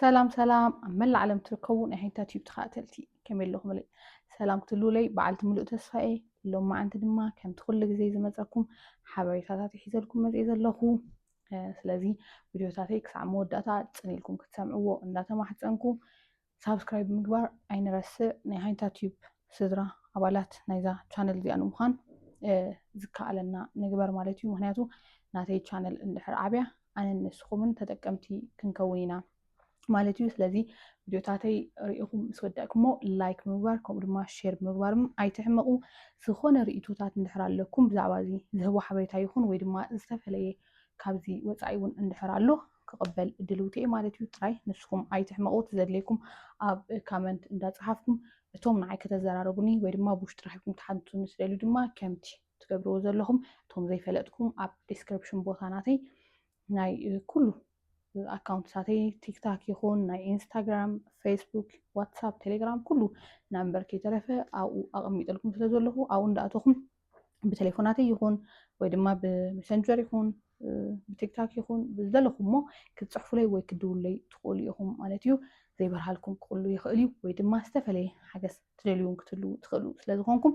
ሰላም ሰላም ኣብ መላእ ዓለም ትርከቡ ናይ ሓይታ ቲዩብ ተኸታተልቲ ከመይ ኣለኹምለይ ሰላም ክትልውለይ በዓልቲ ምሉእ ተስፋ እየ ሎም መዓንቲ ድማ ከምቲ ኩሉ ግዜ ዝመፀኩም ሓበሬታታት ይሒዘልኩም መፅእ ዘለኹ ስለዚ ቪድዮታተይ ክሳዕ መወዳእታ ፅን ኢልኩም ክትሰምዕዎ እንዳተማሕፀንኩ ሳብስክራይብ ምግባር ኣይንረስዕ ናይ ሃይንታ ቲዩብ ስድራ ኣባላት ናይዛ ቻነል እዚኣ ንምዃን ዝከኣለና ንግበር ማለት እዩ ምክንያቱ ናተይ ቻነል እንድሕር ዓብያ ኣነን ንስኹምን ተጠቀምቲ ክንከውን ኢና ማለት እዩ ስለዚ ቪድዮታተይ ርኢኹም ምስ ወዳእኩሞ ላይክ ብምግባር ከምኡ ድማ ሼር ብምግባርም ኣይትሕመቑ ዝኾነ ርእቶታት እንድሕር ኣለኩም ብዛዕባ እዚ ዝህቦ ሓበሬታ ይኹን ወይ ድማ ዝተፈለየ ካብዚ ወፃኢ እውን እንድሕር ኣሎ ክቕበል ድልውቲ እየ ማለት እዩ ጥራይ ንስኹም ኣይትሕመቑ ተዘድለይኩም ኣብ ካመንት እንዳፀሓፍኩም እቶም ንዓይ ከተዘራረቡኒ ወይ ድማ ብውሽጢ ረኺብኩም ትሓትቱኒ ስደልዩ ድማ ከምቲ ትገብርዎ ዘለኹም እቶም ዘይፈለጥኩም ኣብ ዲስክሪፕሽን ቦታ ናተይ ናይ ኩሉ ኣካውንትሳተይ ቲክታክ ይኹን ናይ ኢንስታግራም ፌስቡክ ዋትሳፕ ቴሌግራም ኩሉ ናምበር ከይተረፈ ኣብኡ ኣቐሚጠልኩም ስለ ዘለኹ ኣብኡ እንዳእተኹም ብቴሌፎናተይ ይኹን ወይ ድማ ብመሰንጀር ይኹን ብቲክታክ ይኹን ብዘለኹሞ ክትፅሕፉለይ ወይ ክድውለይ ትኽእሉ ኢኹም ማለት እዩ ዘይበርሃልኩም ክቕሉ ይኽእል እዩ ወይ ድማ ዝተፈለየ ሓገዝ ትደልዩን ክትህልዉ ትኽእሉ ስለዝኾንኩም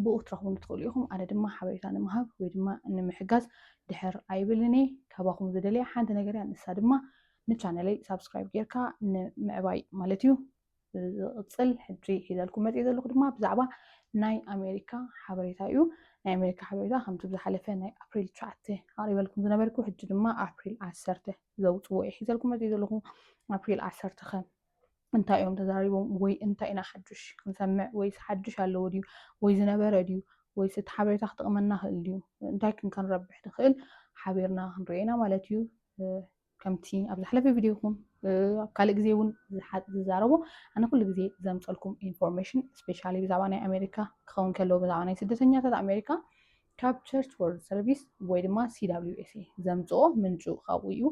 ብኡ ክትረኽቡን ትኽእሉ ኢኹም ኣነ ድማ ሓበሬታ ንምሃብ ወይ ድማ ንምሕጋዝ ድሕር ኣይብልን እየ ካባኹም ዝደለየ ሓንቲ ነገር እያ ንሳ ድማ ንቻነለይ ሳብስክራይብ ጌርካ ንምዕባይ ማለት እዩ ዝቕፅል ሕጂ ሒዘልኩም መፂእ ዘለኹ ድማ ብዛዕባ ናይ ኣሜሪካ ሓበሬታ እዩ ናይ ኣሜሪካ ሓበሬታ ከምቲ ብዝሓለፈ ናይ ኣፕሪል ትሽዓተ ኣቕሪበልኩም ዝነበርኩ ሕጂ ድማ ኣፕሪል ዓሰርተ ዘውፅዎ እዩ ሒዘልኩም መፂእ ዘለኹ ኣፕሪል ዓሰርተ ከ እንታይ እዮም ተዛሪቦም ወይ እንታይ ኢና ሓዱሽ ክንሰምዕ ወይስ ሓዱሽ ኣለዎ ድዩ ወይ ዝነበረ ድዩ ወይስ እቲ ሓበሬታ ክጥቕመና ክእል ድዩ እንታይ ክንከንረብሕ ንኽእል ሓቢርና ክንሪኦ ኢና ማለት እዩ ከምቲ ኣብ ዝሓለፈ ቪድዮ ይኹን ኣብ ካልእ ግዜ እውን ዝዛረቦ ኣነ ኩሉ ግዜ ዘምፀልኩም ኢንፎርሜሽን ስፔሻሊ ብዛዕባ ናይ ኣሜሪካ ክኸውን ከለዎ ብዛዕባ ናይ ስደተኛታት ኣሜሪካ ካብ ቸርች ወርልድ ሰርቪስ ወይ ድማ ሲዳብሊዩኤስኤ ዘምፅኦ ምንጩ ካብኡ እዩ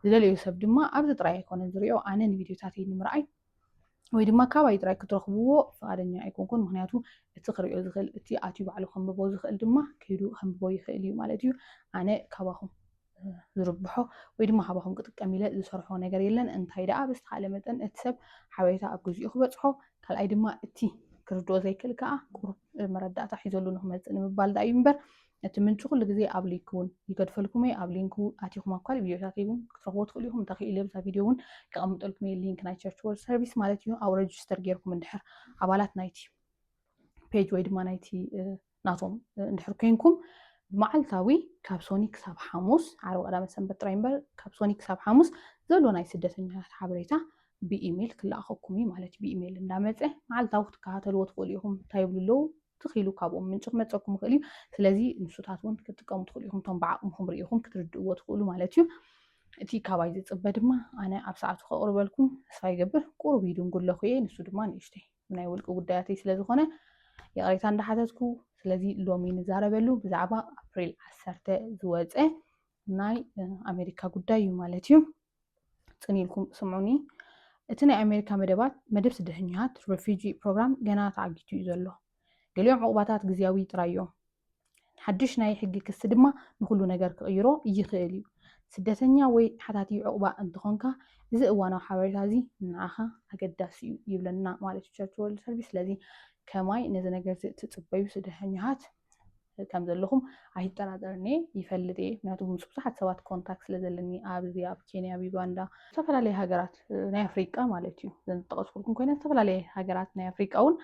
ዝደለዩ ሰብ ድማ ኣብዚ ጥራይ ኣይኮነን ዝሪኦ ኣነ ንቪድዮታተይ ንምርኣይ ወይ ድማ ካባይ ጥራይ ክትረኽብዎ ፍቓደኛ ኣይኮንኩን ምክንያቱ እቲ ክሪኦ ዝኽእል እቲ ኣትዩ ባዕሉ ከንብቦ ዝኽእል ድማ ከይዱ ከንብቦ ይኽእል እዩ ማለት እዩ ኣነ ካባኹም ዝርብሖ ወይ ድማ ካባኹም ክጥቀም ኢለ ዝሰርሖ ነገር የለን እንታይ ደኣ ብዝተኻለ መጠን እቲ ሰብ ሓበሬታ ኣብ ግዜኡ ክበፅሖ ካልኣይ ድማ እቲ ክርድኦ ዘይክእል ከዓ ቁሩብ መረዳእታ ሒዘሉ ንክመፅእ ንምባል ዳእዩ እምበር እቲ ምንጪ ኩሉ ግዜ ኣብ ሊክ ውን ይገድፈልኩም እየ ኣብ ሊንክ ኣቲኩም ኣብ ካልእ ቪድዮታተይ ውን ክትረክብዎ ትክእሉ ኢኩም እንተክኢለ ኣብዛ ቪድዮ ውን ከቀምጠልኩም እየ ሊንክ ናይ ቸርች ወርልድ ሰርቪስ ማለት እዩ ኣብ ረጅስተር ጌርኩም እንድሕር ኣባላት ናይቲ ፔጅ ወይ ድማ ናይቲ ናቶም እንድሕር ኮንኩም ብመዓልታዊ ካብ ሶኒ ክሳብ ሓሙስ ዓርቢ ቀዳመ ሰንበት ጥራይ እምበር ካብ ሶኒ ክሳብ ሓሙስ ዘሎ ናይ ስደተኛታት ሓበሬታ ብኢሜል ክለኣኸኩም እዩ ማለት ብኢሜል እንዳመፀ መዓልታዊ ክትከታተልዎ ትኽእሉ ኢኹም እንታይ ይብሉ ኣለዉ ትኽኢሉ ካብኦም ምንጪ ክመፀኩም ይኽእል እዩ ስለዚ ንሱታት እውን ክትጥቀሙ ትኽእሉ ኢኹም እቶም ብዓቕምኹም ርኢኹም ክትርድእዎ ትኽእሉ ማለት እዩ እቲ ካባይ ዝፅበ ድማ ኣነ ኣብ ሰዓቱ ከቕርበልኩም ተስፋ ይገብር ቁሩብ ይድንጉለኹ እየ ንሱ ድማ ንእሽተይ ናይ ውልቂ ጉዳያተይ ስለ ዝኾነ ይቕሬታ እንዳሓተትኩ ስለዚ ሎሚ ንዛረበሉ ብዛዕባ ኣፕሪል ዓሰርተ ዝወፀ ናይ ኣሜሪካ ጉዳይ እዩ ማለት እዩ ፅን ኢልኩም ስምዑኒ እቲ ናይ ኣሜሪካ መደባት መደብ ስደተኛታት ረፊጂ ፕሮግራም ገና ተዓጊቱ እዩ ዘሎ ገሊኦም ዕቑባታት ግዝያዊ ጥራይ እዮም ሓድሽ ናይ ሕጊ ክሲ ድማ ንኩሉ ነገር ክቕይሮ ይኽእል እዩ ስደተኛ ወይ ሓታቲ ዕቑባ እንትኾንካ እዚ እዋናዊ ሓበሬታ እዚ ንዓኻ ኣገዳሲ እዩ ይብለና ማለት እዩ ቸርች ወርልድ ሰርቪስ ስለዚ ከማይ ነዚ ነገር እዚ እትፅበዩ ስደተኛታት ከም ዘለኹም ኣይጠራጠርን እየ ይፈልጥ እየ ምክንያቱ ምስ ብዙሓት ሰባት ኮንታክት ስለ ዘለኒ ኣብዚ ኣብ ኬንያ ኣብ ዩጋንዳ ዝተፈላለየ ሃገራት ናይ ኣፍሪቃ ማለት እዩ ዘን ዝጠቐስኩልኩም ኮይነ ዝተፈላለየ ሃገራት ናይ ኣፍሪቃ እውን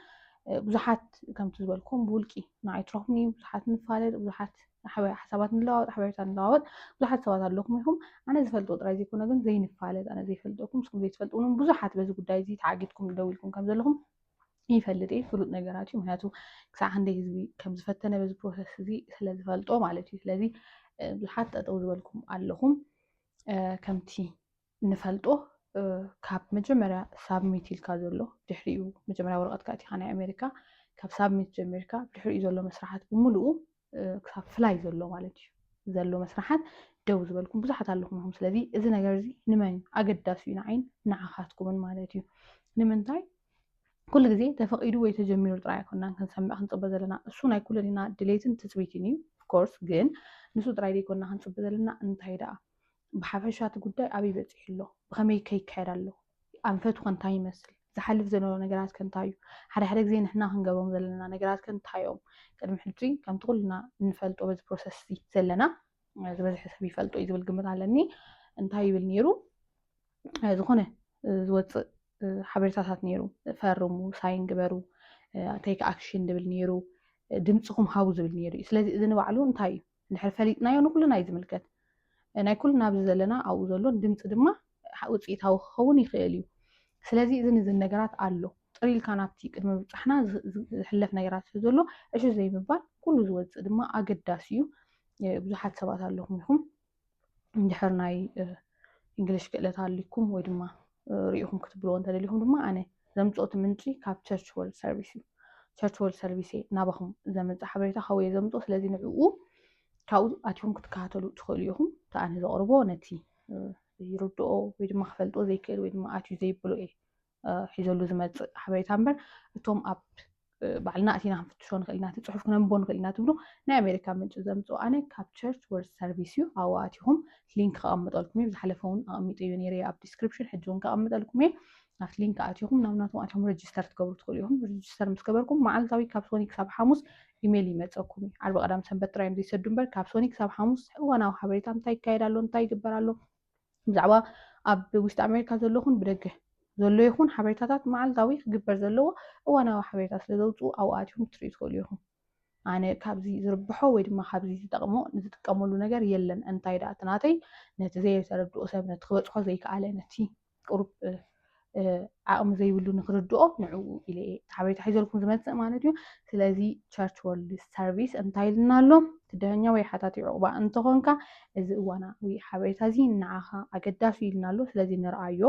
ብዙሓት ከምቲ ዝበልኩም ብውልቂ ንዓይ ትረኽቡኒ ብዙሓት ንፋለጥ ብዙሓት ሓሳባት ንለዋወጥ ሓበሬታ ንለዋወጥ ብዙሓት ሰባት ኣለኹም ኢኹም ኣነ ዝፈልጦ ጥራይ ዘይኮነ ግን ዘይንፋለጥ ኣነ ዘይፈልጠኩም ንስኩም ዘይትፈልጡን ብዙሓት በዚ ጉዳይ እዚ ተዓጊትኩም ደው ኢልኩም ከም ዘለኹም ይፈልጥ እየ ፍሉጥ ነገራት እዩ ምክንያቱ ክሳዕ ክንደይ ህዝቢ ከም ዝፈተነ በዚ ፕሮሰስ እዚ ስለ ዝፈልጦ ማለት እዩ ስለዚ ብዙሓት ጠጠው ዝበልኩም ኣለኹም ከምቲ ንፈልጦ ካብ መጀመርያ ሳብሚት ኢልካ ዘሎ ድሕሪኡ መጀመርያ ወረቐትካ እቲኻ ናይ ኣሜሪካ ካብ ሳብሚት ጀሚርካ ድሕሪኡ ዘሎ መስራሓት ብምልኡ ክሳብ ፍላይ ዘሎ ማለት እዩ ዘሎ መስራሓት ደው ዝበልኩም ብዙሓት ኣለኹም ኢኹም ስለዚ እዚ ነገር እዚ ንመን እዩ ኣገዳሲ እዩ ንዓይን ንዓኻትኩምን ማለት እዩ ንምንታይ ኩሉ ግዜ ተፈቂዱ ወይ ተጀሚሩ ጥራይ ኣይኮናን ክንሰምዕ ክንፅበ ዘለና እሱ ናይ ኩለን ኢና ድሌትን ትፅቢትን እዩ ኦፍኮርስ ግን ንሱ ጥራይ ዘይኮና ክንፅበ ዘለና እንታይ ደኣ ብሓፈሻ እቲ ጉዳይ ኣበይ በፂሑ ኣሎ፣ ብኸመይ ከ ይካየድ ኣሎ፣ ኣንፈቱ ከ እንታይ ይመስል፣ ዝሓልፍ ዘሎ ነገራት ከ እንታይ እዩ፣ ሓደ ሓደ ግዜ ንሕና ክንገብሮም ዘለና ነገራት ከ እንታይ እዮም፣ ቅድሚ ሕጂ ከምቲ ኩልና እንፈልጦ በዚ ፕሮሰስ እዚ ዘለና ዝበዝሐ ሰብ ይፈልጦ እዩ ዝብል ግምት ኣለኒ እንታይ ይብል ነይሩ ዝኾነ ዝወፅእ ሓበሬታታት ነይሩ ፈርሙ ሳይን ግበሩ ቴክ ኣክሽን ዝብል ነይሩ ድምፅኹም ሃቡ ዝብል ነይሩ እዩ ስለዚ እዚ ንባዕሉ እንታይ እዩ እንድሕር ፈሊጥናዮ ንኩልና እዩ ዝምልከት ናይ ኩልና ኣብዚ ዘለና ኣብኡ ዘሎን ድምፂ ድማ ውፅኢታዊ ክኸውን ይኽእል እዩ ስለዚ እዝን እዝን ነገራት ኣሎ ፅር ኢልካ ናብቲ ቅድሚ ምብፃሕና ዝሕለፍ ነገራት ስለ ዘሎ ዕሹ ዘይምባል ኩሉ ዝወፅእ ድማ ኣገዳሲ እዩ ብዙሓት ሰባት ኣለኹም ኢኹም እንድሕር ናይ እንግሊሽ ክእለት ኣልኩም ወይ ድማ ሪኢኹም ክትብልዎ እንተደሊኹም ድማ ኣነ ዘምፅኦ እቲ ምንጪ ካብ ቸርች ወርልድ ሰርቪስ እዩ ቸርች ወርልድ ሰርቪስ እየ ናባኹም ዘምፅእ ሓበሬታ ካብኡ እየ ዘምፅኦ ስለዚ ንዕኡ ካብኡ ኣትኹም ክትከታተሉ ትኽእሉ ኢኹም እቲ ኣነ ዘቕርቦ ነቲ ይርድኦ ወይ ድማ ክፈልጦ ዘይክእል ወይ ድማ ኣትዩ ዘይብሎ እየ ሒዘሉ ዝመፅእ ሓበሬታ እምበር እቶም ኣብ ባዕልና እቲና ክንፍትሾ ንኽእል ኢና እቲ ፅሑፍ ክነንቦ ንኽእል ኢና ትብሉ ናይ ኣሜሪካ ምንጪ ዘምፅኡ ኣነ ካብ ቸርች ወርድ ሰርቪስ እዩ ኣብኡ ኣቲኹም ሊንክ ከቐምጠልኩም እዩ ዝሓለፈ እውን ኣቐሚጡ እዩ ነይረ ኣብ ዲስክሪፕሽን ሕጂ እውን ከቐምጠልኩም እየ ናብቲ ሊንክ ኣቲኹም ናብ ናቶም ኣቲኹም ረጅስተር ትገብሩ ትኽእሉ ኢኹም ረጅስተር ምስ ገበርኩም መዓልታዊ ካብ ሶኒ ክሳብ ሓሙስ ኢሜይል ይመፀኩም እዩ ዓርቢ ቀዳም ሰንበት ጥራዮም ዘይሰዱ እምበር ካብ ሶኒ ክሳብ ሓሙስ እዋናዊ ሓበሬታ እንታይ ይካየድ ኣሎ እንታይ ይግበር ኣሎ ብዛዕባ ኣብ ውሽጢ ኣሜሪካ ዘሎ ኹን ብደገ ዘሎ ይኹን ሓበሬታታት መዓልታዊ ክግበር ዘለዎ እዋናዊ ሓበሬታ ስለ ዘውፅኡ ኣብኡ ኣትኹም ክትሪኡ ትኽእሉ ኢኹም። ኣነ ካብዚ ዝርብሖ ወይ ድማ ካብዚ ዝጠቕሞ ንዝጥቀመሉ ነገር የለን እንታይ ደኣ እቲ ናተይ ነቲ ዘየተረድኦ ሰብ ነቲ ክበፅሖ ዘይከኣለ ነቲ ቅሩብ ዓቕሚ ዘይብሉ ንክርድኦ ንዕኡ ኢለ እየ ሓበሬታ ሒዘልኩም ዝመፅእ ማለት እዩ ስለዚ ቸርች ወርልድ ሰርቪስ እንታይ ኢልና ኣሎ ትድሀኛ ወይ ሓታቲ ዕቑባ እንተኾንካ እዚ እዋናዊ ሓበሬታ እዚ ንዓኻ ኣገዳሲ ኢልና ኣሎ ስለዚ ንርኣዮ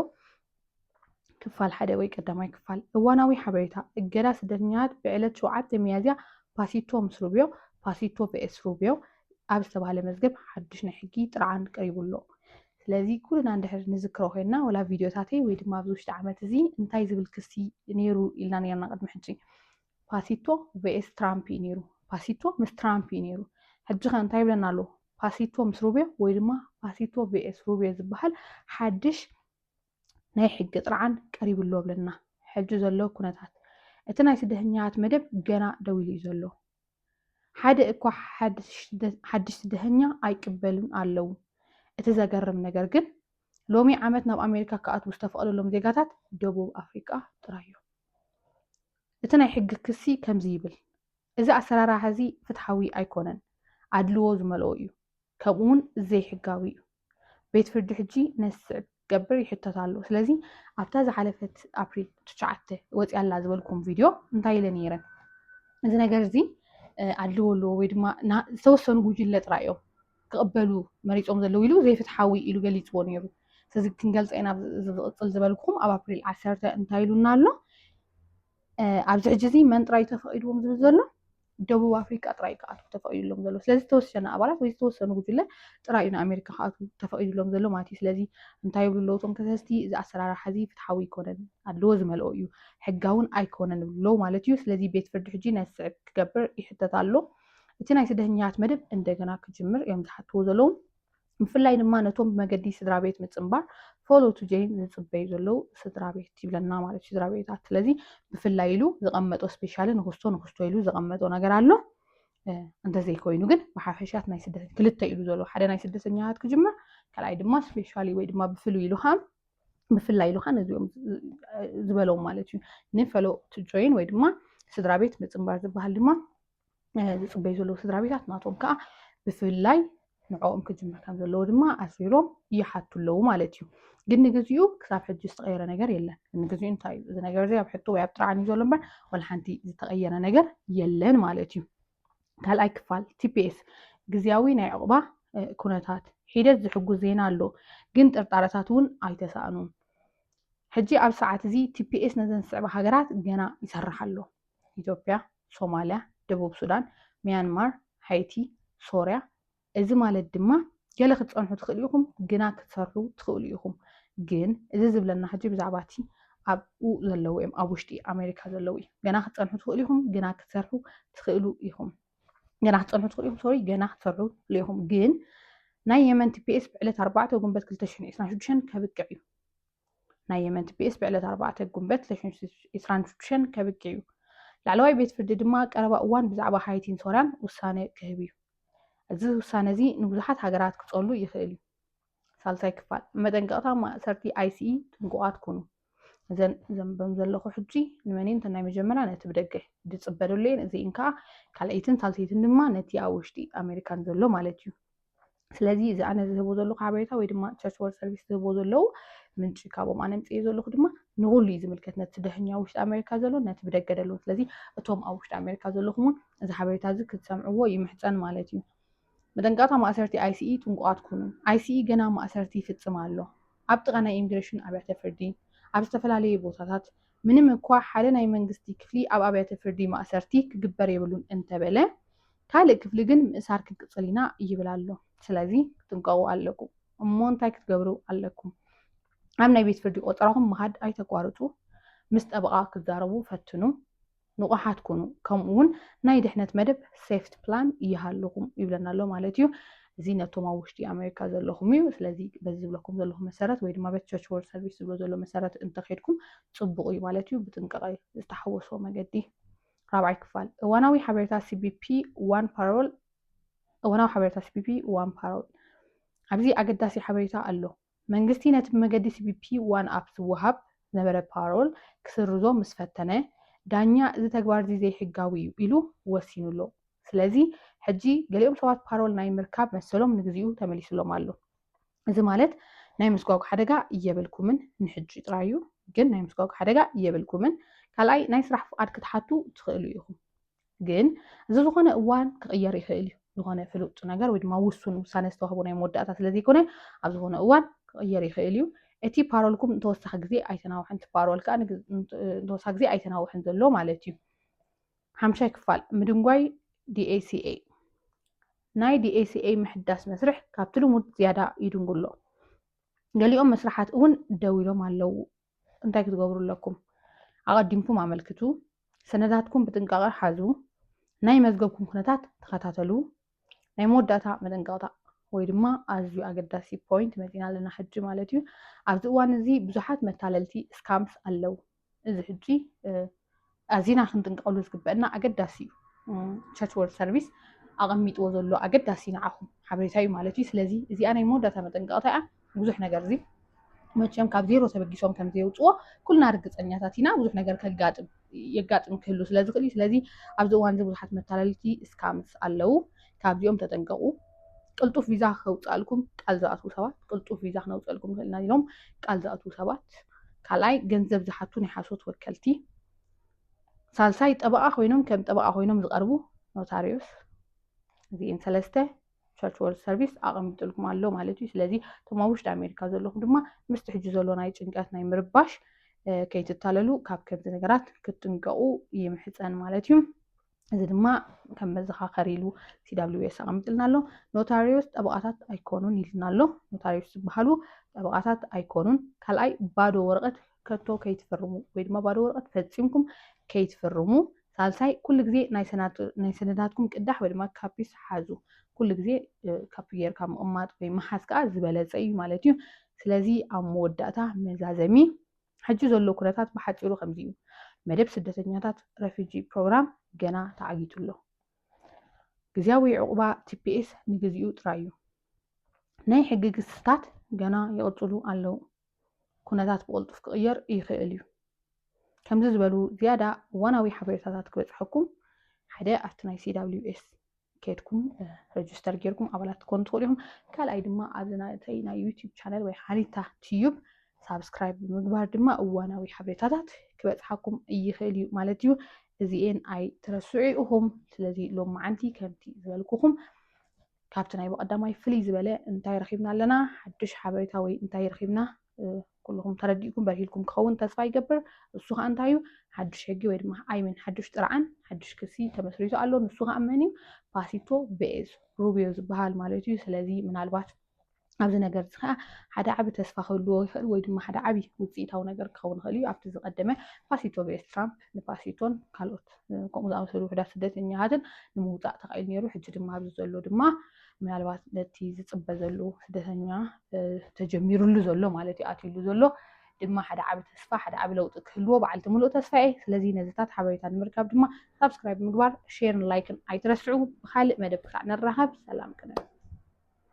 ክፋል ሓደ ወይ ቀዳማይ ክፋል እዋናዊ ሓበሬታ እገዳ ስደተኛታት ብዕለት ሸውዓተ ሚያዝያ ፓሲቶ ምስ ሩብዮ ፓሲቶ ፒኤስ ሩብዮ ኣብ ዝተባሃለ መዝገብ ሓዱሽ ናይ ሕጊ ጥርዓን ቀሪቡ ኣሎ። ስለዚ ኩልና እንድሕር ንዝክሮ ኮይንና ወላ ቪድዮታተይ ወይ ድማ ኣብዚ ውሽጢ ዓመት እዚ እንታይ ዝብል ክሲ ነይሩ ኢልና ነርና ቅድሚ ሕጂ ፓሲቶ ቬኤስ ትራምፕ እዩ ነይሩ። ፓሲቶ ምስ ትራምፕ እዩ ነይሩ። ሕጂ ከ እንታይ ይብለና ኣሎ? ፓሲቶ ምስ ሩብዮ ወይ ድማ ፓሲቶ ቪኤስ ሩብዮ ዝበሃል ሓድሽ ናይ ሕጊ ጥርዓን ቀሪቡ ኣሎ ብለና። ሕጂ ዘሎ ኩነታት እቲ ናይ ስደተኛታት መደብ ገና ደው ኢሉ እዩ ዘሎ። ሓደ እኳ ሓድሽ ስደተኛ ኣይቅበሉን ኣለው። እቲ ዘገርም ነገር ግን ሎሚ ዓመት ናብ ኣሜሪካ ክኣትዉ ዝተፈቕደሎም ዜጋታት ደቡብ ኣፍሪቃ ጥራይ እዮም። እቲ ናይ ሕጊ ክሲ ከምዚ ይብል፣ እዚ ኣሰራርሓ እዚ ፍትሓዊ ኣይኮነን፣ ኣድልዎ ዝመልኦ እዩ፣ ከምኡውን ዘይሕጋዊ እዩ። ቤት ፍርዲ ሕጂ ነዚ ዝስዕብ ክገብር ይሕተት ኣሎ ስለዚ ኣብታ ዝሓለፈት ኣፕሪል ትሽዓተ ወፂኣ ኣላ ዝበልኩም ቪድዮ እንታይ ኢለ ነይረ እዚ ነገር እዚ ኣድልዎ ኣለዎ ወይ ድማ ዝተወሰኑ ጉጅለ ጥራይ እዮም ክቕበሉ መሪፆም ዘለዉ ኢሉ ዘይፍትሓዊ ኢሉ ገሊፅዎ ነይሩ ስለዚ ክንገልፀ ኢና ዝቕፅል ዝበልኩም ኣብ ኣፕሪል ዓሰርተ እንታይ ኢሉና ኣሎ ኣብዚ ሕጂ እዚ መን ጥራይ ተፈቒድዎም ዝብል ዘሎ ደቡብ ኣፍሪቃ ጥራይ ክኣትዉ ተፈቒዱሎም ዘሎ ስለዚ ዝተወሰነ ኣባላት ወይ ዝተወሰኑ ጉጅለ ጥራይ እዩ ንኣሜሪካ ክኣትዉ ተፈቒዱሎም ዘሎ ማለት እዩ ስለዚ እንታይ ይብሉ ኣለዉ እቶም ከሰስቲ እዚ ኣሰራርሓ እዚ ፍትሓዊ ኣይኮነን ኣድልዎ ዝመልኦ እዩ ሕጋውን ኣይኮነን ይብሉ ኣለዉ ማለት እዩ ስለዚ ቤት ፍርዲ ሕጂ ናይ ዝስዕብ ክገብር ይሕተት ኣሎ እቲ ናይ ስደተኛታት መደብ እንደገና ክጅምር እዮም ዝሓትዎ ዘለዉ ብፍላይ ድማ ነቶም ብመገዲ ስድራ ቤት ምፅምባር ፎሎ ቱ ጀይን ዝፅበዩ ዘለዉ ስድራ ቤት ይብለና ማለት እዩ ስድራ ቤታት ስለዚ ብፍላይ ኢሉ ዝቐመጦ ስፔሻሊ ንክስቶ ንክስቶ ኢሉ ዘቐመጦ ነገር ኣሎ እንተዘይኮይኑ ግን ብሓፈሻት ናይ ስደተ ክልተ ኢሉ ዘሎ ሓደ ናይ ስደተኛታት ክጅምር ካልኣይ ድማ ስፔሻሊ ወይ ድማ ብፍሉይ ኢሉ ከዓ ብፍላይ ኢሉ ከዓ ነዚኦም ዝበሎም ማለት እዩ ንፈሎ ጆይን ወይ ድማ ስድራ ቤት ምፅምባር ዝበሃል ድማ ዝፅበዩ ዘለዉ ስድራ ቤታት ናቶም ከዓ ብፍላይ ንዕኦም ክጅምር ከም ዘለዎ ድማ ኣስቢሮም ይሓቱ ኣለዉ ማለት እዩ ግን ንግዚኡ ክሳብ ሕጂ ዝተቐየረ ነገር የለን ንግዚኡ እንታይ እዩ እዚ ነገር እዚ ኣብ ሕቶ ወይ ኣብ ጥርዓን እዩ ዘሎ እምበር ወላ ሓንቲ ዝተቐየረ ነገር የለን ማለት እዩ ካልኣይ ክፋል ቲፒኤስ ግዜያዊ ናይ ዕቑባ ኩነታት ሒደት ዝሕጉዝ ዜና ኣሎ ግን ጥርጣረታት እውን ኣይተሳእኑን ሕጂ ኣብ ሰዓት እዚ ቲፒኤስ ነዘን ዝስዕባ ሃገራት ገና ይሰርሕ ኣሎ ኢትዮጵያ፣ ሶማልያ፣ ደቡብ ሱዳን፣ ሚያንማር፣ ሃይቲ፣ ሶርያ፣ እዚ ማለት ድማ ገለ ክትጸንሑ ትኽእሉ ኢኹም፣ ግና ክትሰርሑ ትኽእሉ ኢኹም። ግን እዚ ዝብለና ሕጂ ብዛዕባ እቲ ኣብኡ ዘለዉ እዮም፣ ኣብ ውሽጢ ኣሜሪካ ዘለዉ እዩ። ገና ክትጸንሑ ትኽእሉ ኢኹም፣ ግና ክትሰርሑ ትኽእሉ ኢኹም። ገና ክትጸንሑ ትኽእሉ ኢኹም፣ ሶሪ፣ ገና ክትሰርሑ ትኽእሉ ኢኹም። ግን ናይ የመን ቲፒኤስ ብዕለት ኣርባዕተ ጉንበት ክልተ ሽሕን ዒስራን ሽዱሽተን ከብቅዕ እዩ። ናይ የመን ቲፒኤስ ብዕለት ኣርባዕተ ጉንበት ዕስራን ሽዱሽተን ከብቂ እዩ። ላዕለዋይ ቤት ፍርዲ ድማ ቀረባ እዋን ብዛዕባ ሃይቲን ሶርያን ውሳነ ክህብ እዩ። እዚ ውሳነ እዚ ንብዙሓት ሃገራት ክጸሉ ይኽእል እዩ። ሳልሳይ ክፋል መጠንቀቕታ ማእሰርቲ ኣይሲኢ ጥንቁቓት ኩኑ። እዘን ዘንበም ዘለኹ ሕጂ ንመን እየን ናይ መጀመርያ ነቲ ብደገ ዝጽበ ዘሎ እየን እዚእን ከዓ ካልኣይትን ሳልሰይትን ድማ ነቲ ኣብ ውሽጢ ኣሜሪካን ዘሎ ማለት እዩ። ስለዚ እዚ ኣነ ዝህቦ ዘለኹ ሓበሬታ ወይ ድማ ቸርች ወር ሰርቪስ ዝህቦ ዘለዉ ምንጪ ካብኦም ኣነ ምፅዮ ዘለኹ ድማ ንኩሉ እዩ ዝምልከት ነቲ ደህኛ ውሽጢ ኣሜሪካ ዘሎ ነቲ ብደገ ደለዉ ስለዚ እቶም ኣብ ውሽጢ ኣሜሪካ ዘለኹም እውን እዚ ሓበሬታ እዚ ክትሰምዕዎ ይምሕፀን ማለት እዩ መጠንቀቕታ ማእሰርቲ ኣይሲኢ ጥንቁቓት ኩኑ ኣይሲኢ ገና ማእሰርቲ ይፍፅም ኣሎ ኣብ ጥቓ ናይ ኢሚግሬሽን ኣብያተ ፍርዲ ኣብ ዝተፈላለዩ ቦታታት ምንም እኳ ሓደ ናይ መንግስቲ ክፍሊ ኣብ ኣብያተ ፍርዲ ማእሰርቲ ክግበር የብሉን እንተበለ ካልእ ክፍሊ ግን ምእሳር ክንቅጽል ኢና ይብል ኣሎ። ስለዚ ክትጥንቀቑ ኣለኩም። እሞ እንታይ ክትገብሩ ኣለኩም? ኣብ ናይ ቤት ፍርዲ ቆጸራኹም ምኻድ ኣይተቋርጹ። ምስ ጠበቓ ክትዛረቡ ፈትኑ። ንቑሓት ኩኑ። ከምኡ እውን ናይ ድሕነት መደብ ሴፍት ፕላን ይሃልኹም ይብለና ኣሎ ማለት እዩ። እዚ ነቶም ኣብ ውሽጢ ኣሜሪካ ዘለኹም እዩ። ስለዚ በዚ ዝብለኩም ዘለኹ መሰረት ወይ ድማ በቲ ቸርች ወርልድ ሰርቪስ ዝብሎ ዘሎ መሰረት እንተኸድኩም ጽቡቕ እዩ ማለት እዩ። ብጥንቃቐ ዝተሓወሶ መገዲ ራብዓይ ክፋል እዋናዊ ሓበሬታ ሲቢፒ ዋን ፓሮል እዋናዊ ሓበሬታ ሲቢፒ ዋን ፓሮል ኣብዚ ኣገዳሲ ሓበሬታ ኣሎ። መንግስቲ ነቲ ብመገዲ ሲቢፒ ዋን ኣፕ ዝወሃብ ዝነበረ ፓሮል ክስርዞ ምስ ፈተነ፣ ዳኛ እዚ ተግባር እዚ ዘይሕጋዊ እዩ ኢሉ ወሲኑ ኣሎ። ስለዚ ሕጂ ገሊኦም ሰባት ፓሮል ናይ ምርካብ መሰሎም ንግዚኡ ተመሊሱሎም ኣሎ። እዚ ማለት ናይ ምስጓጉ ሓደጋ የብልኩምን ንሕጂ ጥራይ እዩ ግን ናይ ምስጓጉ ሓደጋ የብልኩምን ካልኣይ ናይ ስራሕ ፍቓድ ክትሓቱ ትኽእሉ ኢኹም ግን እዚ ዝኾነ እዋን ክቕየር ይኽእል እዩ ዝኾነ ፍሉጥ ነገር ወይ ድማ ውሱን ውሳነ ዝተዋህቦ ናይ መወዳእታ ስለ ዘይኮነ ኣብ ዝኾነ እዋን ክቕየር ይኽእል እዩ እቲ ፓሮልኩም ንተወሳኺ ግዜ ኣይተናውሕን እቲ ፓሮል ከዓ ንተወሳኺ ግዜ ኣይተናውሕን ዘሎ ማለት እዩ ሓምሻይ ክፋል ምድንጓይ DACA ናይ DACA ምሕዳስ መስርሕ ካብቲ ልሙድ ዝያዳ ይድንጉ ኣሎ። ገሊኦም መስርሓት እውን ደው ኢሎም ኣለዉ። እንታይ ክትገብሩ ኣለኩም? ኣቐዲምኩም ኣመልክቱ፣ ሰነዳትኩም ብጥንቃቐ ሓዙ፣ ናይ መዝገብኩም ኩነታት ተኸታተሉ፣ ናይ መወዳእታ መጠንቀቕታ ወይ ድማ ኣዝዩ ኣገዳሲ ፖይንት መፂና ኣለና ሕጂ ማለት እዩ። ኣብዚ እዋን እዚ ብዙሓት መታለልቲ ስካምስ ኣለው። እዚ ሕጂ ኣዚና ክንጥንቀቐሉ ዝግበአና ኣገዳሲ እዩ። ቸርች ወርልድ ሰርቪስ ኣቐሚጥዎ ዘሎ ኣገዳሲ ንዓኹም ሓበሬታ እዩ ማለት እዩ። ስለዚ እዚኣ ናይ መወዳእታ መጠንቀቕታ እያ። ብዙሕ ነገር እዚ መቸም ካብ ዜሮ ተበጊሶም ከም ዘየውፅዎ ኩልና ርግፀኛታት ኢና። ብዙሕ ነገር ከጋጥም የጋጥም ክህሉ ስለ ዝኽእል እዩ። ስለዚ ኣብዚ እዋን እዚ ብዙሓት መታለልቲ እስካምስ ኣለው፣ ካብዚኦም ተጠንቀቑ። ቅልጡፍ ቪዛ ከውፅኣልኩም ቃል ዝኣትዉ ሰባት ቅልጡፍ ቪዛ ክነውፅኣልኩም ንኽእል ኢና ኢሎም ቃል ዝኣትዉ ሰባት፣ ካልኣይ ገንዘብ ዝሓቱ ናይ ሓሶት ወከልቲ፣ ሳልሳይ ጠበቓ ኮይኖም ከም ጠበቓ ኮይኖም ዝቐርቡ ኖታሪዮስ፣ እዚኤን ሰለስተ ቸርች ወርልድ ሰርቪስ ኣቐሚጥልኩም ኣሎ ማለት እዩ ስለዚ እቶም ኣብ ውሽጢ ኣሜሪካ ዘለኹም ድማ ምስቲ ሕጂ ዘሎ ናይ ጭንቀት ናይ ምርባሽ ከይትታለሉ ካብ ከምዚ ነገራት ክትጥንቀቑ ይምሕፀን ማለት እዩ እዚ ድማ ከም መዘኻኸሪ ኢሉ ሲዳብሊዌስ ኣቐሚጥልና ኣሎ ኖታሪዎስ ጠበቓታት ኣይኮኑን ኢልና ኣሎ ኖታሪዎስ ዝበሃሉ ጠበቓታት ኣይኮኑን ካልኣይ ባዶ ወረቐት ከቶ ከይትፍርሙ ወይ ድማ ባዶ ወረቐት ፈጺምኩም ከይትፍርሙ። ሳልሳይ ኩሉ ግዜ ናይ ሰነዳትኩም ቅዳሕ ወይ ድማ ካፒስ ሓዙ። ኩሉ ግዜ ካፒ ጌርካ ምቕማጥ ወይ ምሓዝ ከዓ ዝበለፀ እዩ ማለት እዩ። ስለዚ ኣብ መወዳእታ መዛዘሚ ሕጂ ዘሎ ኩነታት ብሓፂሩ ከምዚ እዩ። መደብ ስደተኛታት ረፊጂ ፕሮግራም ገና ተዓጊቱ ኣሎ። ግዜያዊ ዕቑባ ቲፒኤስ ንግዚኡ ጥራይ እዩ። ናይ ሕጊ ክስታት ገና ይቕፅሉ ኣለዉ። ኩነታት ብቕልጡፍ ክቕየር ይኽእል እዩ። ከምዚ ዝበሉ ዝያዳ እዋናዊ ሓበሬታታት ክበጽሐኩም ሓደ ኣብቲ ናይ CWS ኬድኩም ረጅስተር ጌርኩም ኣባላት ክትኮኑ ትኽእሉ ኢኹም። ካልኣይ ድማ ኣብዚ ናተይ ናይ ዩቲዩብ ቻነል ወይ ሓሪታ ትዩብ ሳብስክራይብ ብምግባር ድማ እዋናዊ ሓበሬታታት ክበጽሓኩም ይኽእል እዩ ማለት እዩ። እዚኤን ኣይትረስዑ ኢኹም። ስለዚ ሎም መዓንቲ ከምቲ ዝበልኩኹም ካብቲ ናይ ብቐዳማይ ፍልይ ዝበለ እንታይ ረኺብና ኣለና፣ ሓድሽ ሓበሬታ ወይ እንታይ ረኺብና ኩልኹም ተረዲእኩም በርሂልኩም ክኸውን ተስፋ ይገብር። እሱ ከዓ እንታይ እዩ ሓድሽ ሕጊ ወይ ድማ ኣይሚን ሓድሽ ጥርዓን ሓድሽ ክሲ ተመስሪቱ ኣሎ። ንሱ ከዓ መን እዩ ፓሲቶ ቬዝ ሩቢዮ ዝበሃል ማለት እዩ። ስለዚ ምናልባት ኣብዚ ነገር እዚ ከዓ ሓደ ዓቢ ተስፋ ክህልዎ ይኽእል ወይ ድማ ሓደ ዓቢ ውፅኢታዊ ነገር ክኸውን ይኽእል እዩ ኣብቲ ዝቀደመ ፓሲቶ ቪኤስ ትራምፕ ንፓሲቶን ካልኦት ከምኡ ዝኣመሰሉ ውሕዳት ስደተኛታትን ንምውፃእ ተኻኢሉ ነይሩ ሕጂ ድማ ኣብዚ ዘሎ ድማ ምናልባት ነቲ ዝፅበ ዘሉ ስደተኛ ተጀሚሩሉ ዘሎ ማለት እዩ ኣትሉ ዘሎ ድማ ሓደ ዓቢ ተስፋ ሓደ ዓቢ ለውጢ ክህልዎ በዓልቲ ምሉእ ተስፋ እየ ስለዚ ነዚታት ሓበሬታ ንምርካብ ድማ ሳብስክራይብ ምግባር ሼርን ላይክን ኣይትረስዑ ብካልእ መደብ ክሳዕ ንራኸብ ሰላም ቅነ